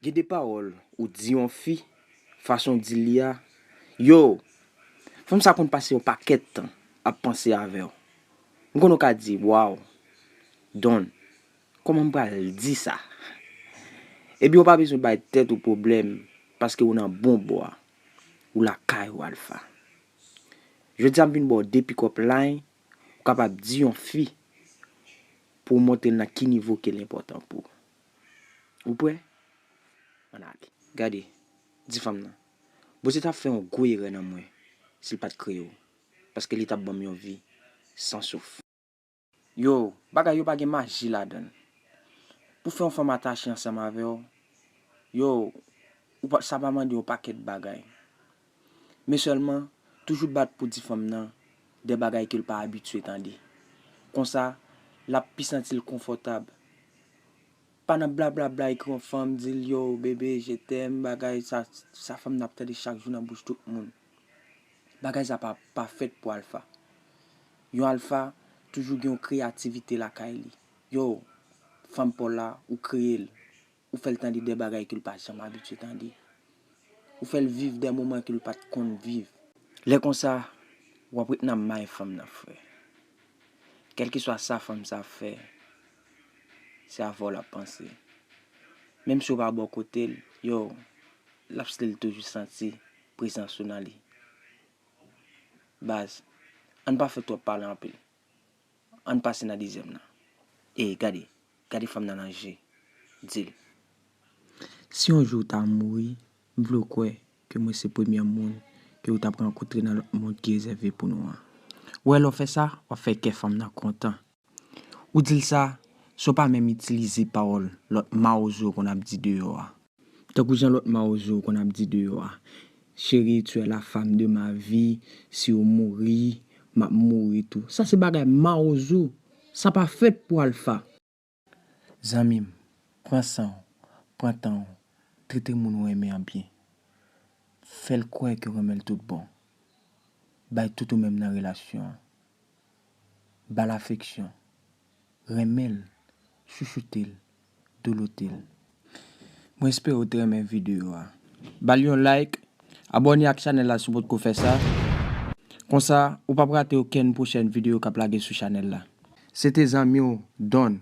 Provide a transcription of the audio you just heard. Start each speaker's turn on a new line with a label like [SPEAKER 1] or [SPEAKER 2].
[SPEAKER 1] Gen de
[SPEAKER 2] pawòl ou di yon fi, fason w di l li a, yo! Fanm sa konn pase yon pakèt tan ap panse avè w. M konnen w ka di, waw! Don, kòman m pral di sa? Ebyen ou pa bezwen bay tèt ou pwoblèm paske ou nan bon bò a. Ou lakay ou Alpha. Jodi a m vin ba w 2 pick up line ou kapab di yon fi pou w montre l nan ki nivo ke l enpòtan pou ou. Ou prè? Ann ale. Gade, di fanm nan, Bondye t ap fè yon gwo erè nan mwen si l pa t kreye w, paske li t ap ban m yon vi san souf. Yo, bagay yo pa gen maji ladann. Pou fè yon fanm atache ansanm avèw, yo, ou pa, sa pa mande yon pakèt bagay. Men sèlman, toujou bat pou di fanm nan de bagay kel pa abitye tande. Konsa, lap pi santil konfòtab. Pa nan blablabla ekri yon fanm, dil yo, bebe, je t'aime, bagay sa, sa fanm nan ap tande chak jou nan bouch tout moun. Bagay sa pa, pa fèt pou alfa. Yon alpha toujou gen yon kreyativite lakay li. Yow fanm paw la ou kreyel, ou fèl tande dè bagay kel pa janm abitye tande. Ou fèl viv dè moman kel pat konn viv. Lè konsa wap ret nan may fanm nan frè. Kèlkeswa sa fanm sa ap fè se avèw lap panse. Menm si ou pa bò kotel, yow lap stil toujou santi prezans ou nan li. Baz, ann pa fè twòp pale anpil. Ann pase nan dezyèm nan. Ey, gade, gade fanm nan nan je. Di l. Si yon jou ou ta mouri, m vle w kwè ke mwen se premyè moun ke ou t ap rankontre nan lòt mond ki rezève pou nou an. Wè, lè w fè sa, w ap fè kè fanm nan kontan. Ou di l sa, san w pa menm itilize pawòl lòt mawozo yo konn ap di deyò a. Tankou jan lòt mawozo yo konn ap di deyò a, Chérie, tu es la femme de ma vie, si ou mouri, m ap mouri tou. Sa se bagay mawozo, sa pa fèt pou alfa. Zanmi m, pran san w, pran tan w, trete moun ou renmen an byen. Fè l kwè ke w renmen l tout bon. Bay tout ou menm nan relasyon an. ba l afeksyon, renmen l, chouchoute l, douloute l. Mwen espere ou te renmen videyo a. Ba l yon like, abòne ak chanèl la si w potko fè sa, konsa ou p ap rate okenn pwochèn videyo k ap lage sou chanèl la. Se te zanmi w Don.